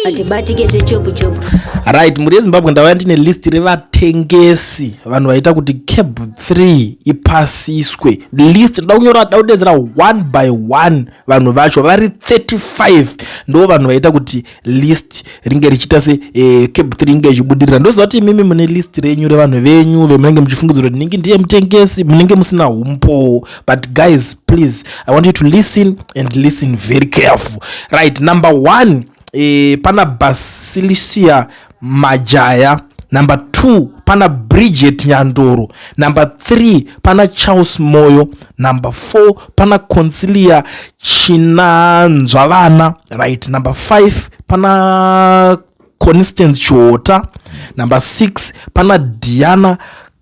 hatibatike zvechopu chopu right mhuri yezimbabwe ndauya ndine list revatengesi vanhu vaita kuti cab 3 ipasiswe list ndoda kunyora ndoda kudedzera one by one vanhu vacho vari 35 ndo vanhu vaita kuti list ringe richiita se eh, cab 3 inge ichibudirira ndoziva kuti imimi mune list renyu revanhu venyu vemunenge muchifungidzira kuti ndingi ndiye mutengesi munenge musina umpo but guys please i want you to listen and listen very careful right number one e, pana basilisia majaya number two pana bridget nyandoro number three pana charles moyo number four pana concilia chinanzva vana right number five pana constance chihota number six pana diana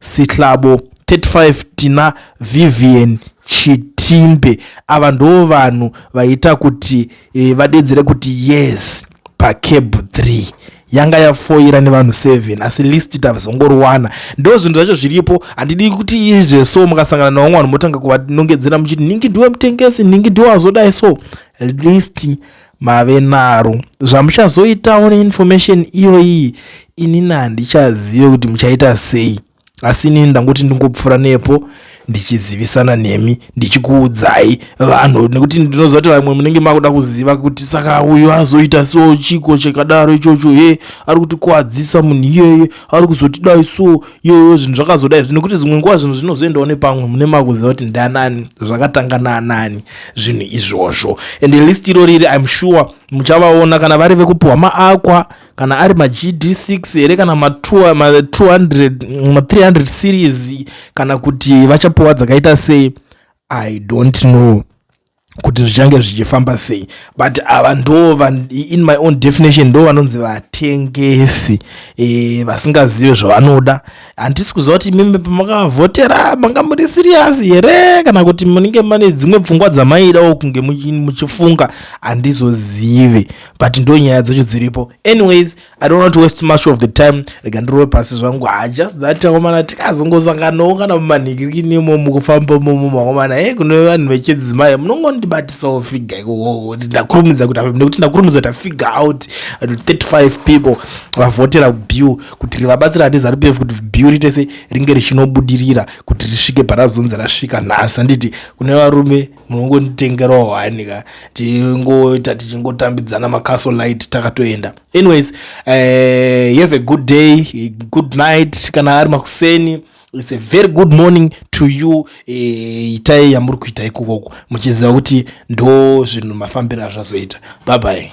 Sihlabo 35 tina Vivian Chitimbe ava ndo vanhu vaita kuti e, vadedzere kuti yes pacab 3 yanga yafoira nevanhu 7 asi list tazongoriwana ndo zvinhu zvacho zviripo handidi kuti izve so mukasangana navamwe vanhu motanga kuvanongedzera muchiti ningi ndiwe mutengesi ningi ndiwe azodai so list mave naro zvamuchazoitawo neinformation iyoyi inini handichazive kuti muchaita sei asi inini ndangoti ndingopfuura nepo ndichizivisana nemi ndichikuudzai vanhu nekuti ndinoziva kuti vamwe munenge makuda kuziva kuti saka uyu azoita so chiko chakadaro ichocho he ari kutikuwadzisa munhu iyeye ari kuzotidai so iyoyo zvinhu zvakazoda izvi nekuti dzimwe nguva zvinhu zvinozoendawo nepamwe mune makuziva kuti ndanani zvakatanga naanani zvinhu izvozvo and list iro riri im sure muchavaona kana vari vekupiwa maakwa kana ari magd6 here kana ma200 ma300 series kana kuti vachapiwa dzakaita sei i don't know kuti zvichange zvichifamba sei but ava ndo in my own definition ndo vanonzi vatengesi e, vasingazive zvavanoda handisi kuziva kuti mimi pamakavhotera manga muri siriyasi here kana kuti munenge mane dzimwe pfungwa dzamaidawo kunge muchifunga handizozive but ndo nyaya dzacho dziripo anyways i don't want to waste much of the time rega ndirove pasi zvangu ha ah, just that akomana tikazongosanganawo kana mumanhikikinimo mukufamba momo makomana e eh, kune vanhu vechidzimai munongondibatisawo figa ikokoti ndakurumidza kuti nekuti ndakurumidza kuti afiga out 35 people vavhotera bue kuti rivabatsira ati zarup f kuti bue rite se ringe richinobudirira kuti risvike parazonzi rasvika nhasi handiti kune varume munongonditengerawo hani ka tingoita tichingotambidzana macastle light takatoenda anyways uh, have a good day good night kana ari makuseni its a very good morning to you eh, itai uh, yamuri kuita ikukoko muchiziva kuti ndo zvinhu mafambiro azvazoita bye bye